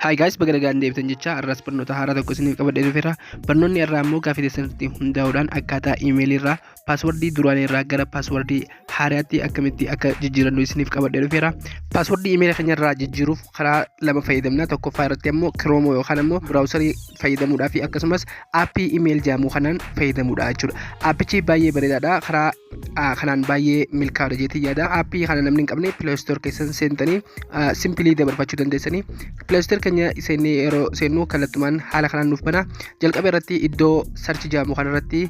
Haay gaayis baga nagaan deebitan jecha har'as barnoota haaraa tokko isiniif qabadhee dhufeera. Barnoonni irraa immoo gaaffii keessanitti hundaa'uudhaan akkaataa iimeelii irraa paaswardii duraanii irraa gara paaswardii haaraatti akkamitti akka jijjiirannu isiniif qabadhee dhufeera. Paaswardii iimeela keenya irraa jijjiiruuf karaa lama fayyadamna. Tokkoffaa irratti ammoo kiroomoo yookaan ammoo biraawusarii fayyadamuudhaa fi akkasumas aappii iimeel jedhamu kanaan fayyadamuudha jechuudha. Aappichi baay'ee bareedaadha. Karaa kanaan baay'ee milkaa'udha jeetii yaada aappii kana namni hin qabne pileestoor keessan seentanii simpilii dabarfachuu dandeessanii pileestoor keenya seennee yeroo seennu kallattumaan haala kanaan nuuf bana jalqaba irratti iddoo sarchi jaamu kana irratti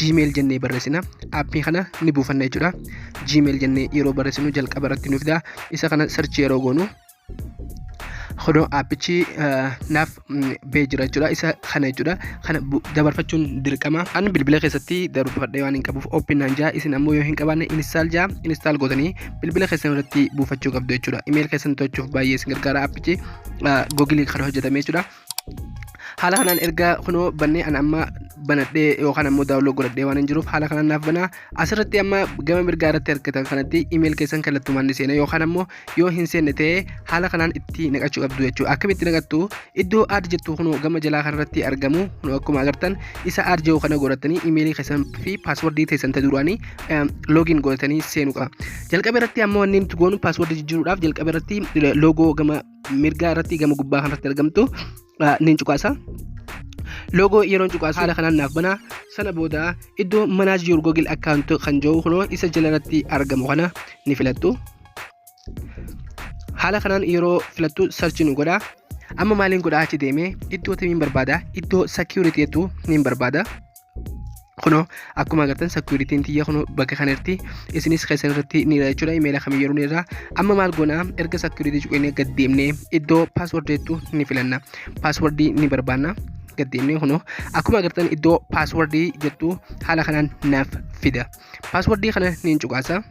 jiimeel jennee barreessina aappii kana ni buufanna jechuudha jiimeel jennee yeroo barreessinu jalqaba irratti nuuf daa isa kana sarchi yeroo goonu Kunoo appichi naaf bee jira jechuudha. Isa kana jechuudha. Kana dabarfachuun dirqama. An bilbila keessatti dabarfadhee waan hin qabuuf open naan jaa. Isin ammoo yoo hin qabaanne install jaa. Install gootanii bilbila keessan irratti buufachuu qabdu jechuudha. Email keessan to'achuuf baay'ee isin gargaara appichi. Google kan hojjetame jechuudha. haala kanaan erga kunoo bannee an amma banadhee yookaan ammoo daawunlood godhadhee waan hin jiruuf haala kanaan naaf banaa asirratti amma gama mirgaa irratti argitan kanatti imeeyil keessan kallattumaan ni seena yookaan ammoo yoo hin seenne ta'e haala kanaan itti naqachuu qabdu jechuudha akkamitti naqattu iddoo aad jettu kunoo gama jalaa kanarratti argamu kunoo akkuma agartan isa aad jiru kana godhatanii imeeyilii keessan fi paaswardii keessan ta duraanii loogiin godhatanii seenuudha jalqaba irratti ammoo wanni nuti goonu paaswardii jijjiiruudhaaf jalqaba irratti loogoo gama mirgaa irratti gama gubbaa kanarratti argamtu niin cuqaasa. Loogoo yeroon cuqaasu haala kanaan naaf banaa sana booda iddoo manaaj yuur googil akkaawunti kan jiru kunoo isa jala irratti argamu kana ni filattu. Haala kanaan yeroo filattu sarchi nu godha. Amma maaliin godhaa achi deemee iddoo timiin barbaada iddoo security jettu niin barbaada. kunoo akkuma agartan securitiin tiyya kunoo bakka kanarti isinis keessan irratti ni irra jechuudha imeela kam yeroo ni irra amma maal goona erga securitii cuqinee gad deemnee iddoo password jettu ni filanna password ni barbaanna gad deemnee kunoo akkuma agartan iddoo password jettu haala kanaan naaf fida password kana ni cuqaasa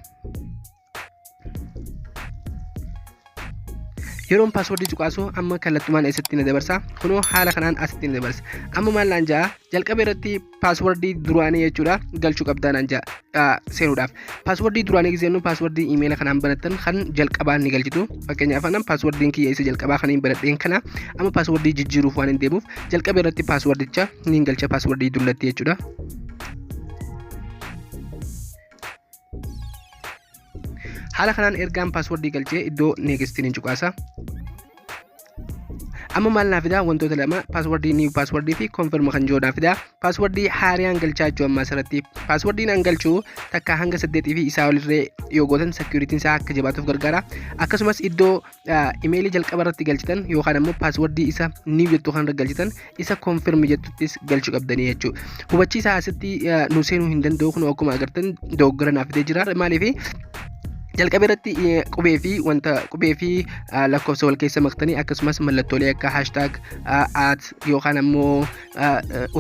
yeroon paaswordii cuqaasu amma kallattumaan eessatti na dabarsa kunoo haala kanaan asitti na dabarsa amma maal naan ja'a jalqaba irratti paaswordii duraanii jechuudha galchuu qabdaa naan ja'a seenuudhaaf paaswordii duraanii giseennu paaswordii imeela kanaan banattan kan jalqabaa ni galchitu fakkeenyaaf anan paaswordiin kiyya isa jalqabaa kan hin banadheen kana amma paaswordii jijjiiruuf waan hin deemuuf jalqaba irratti paaswordicha ni galcha paaswordii dullatti jechuudha haala kanaan ergaan paaswordii galchee iddoo neegistiin hin cuqaasa amma maal naa fidaa wantoota lama paaswordii niiw paaswordii fi konfirma kan jiru naa fidaa paaswordii haariyaan galchaa jechuu ammaa asirratti paaswordiin an galchuu takka hanga saddeetii fi isaa olirree yoo gootan seekuritiin isaa akka jabaatuuf gargaara akkasumas iddoo imeelii jalqaba irratti galchitan yookaan ammoo paaswardii isa niiw jettu kan irra galchitan isa konfirm jettuttis galchuu qabdanii jechuudha. Hubachiisa asitti nu seenuu hin danda'u kun akkuma agartan dogoggora naaf fidee jira maaliif jalqaba irratti qubee fi wanta qubee fi lakkoofsa wal keessa maktanii akkasumas mallattoolee akka haashtaag at yookaan ammoo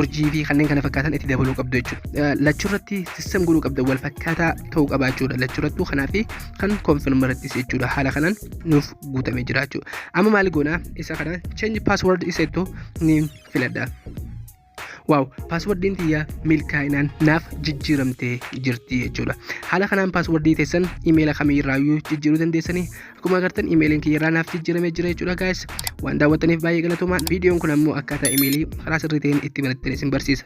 urjii fi kanneen kana fakkaatan itti dabaluu qabdu jechuudha. Lachurratti sistem godhuu qabda wal fakkaataa ta'uu qabaa jechuudha. Lachurrattuu kanaa fi kan confirm irrattis jechuudha. Haala kanaan nuuf guutamee jira jechuudha. Amma maal goona isa kana change password isa jettu ni filadha. waaw paaswardiin tiyya milkaa'inaan naaf jijjiiramtee jirti jechuudha haala kanaan paaswardii teessan imeela kamiirraayyuu jijjiiruu dandeessanii Akkuma agartan imeeliin kiyya irraa naaf jijjiiramee jira jechuudha guys. Waan daawwattaniif baay'ee galatoomaa. Viidiyoon kun ammoo akkaataa imeelii karaa sirrii ta'een itti banattan isin barsiisa.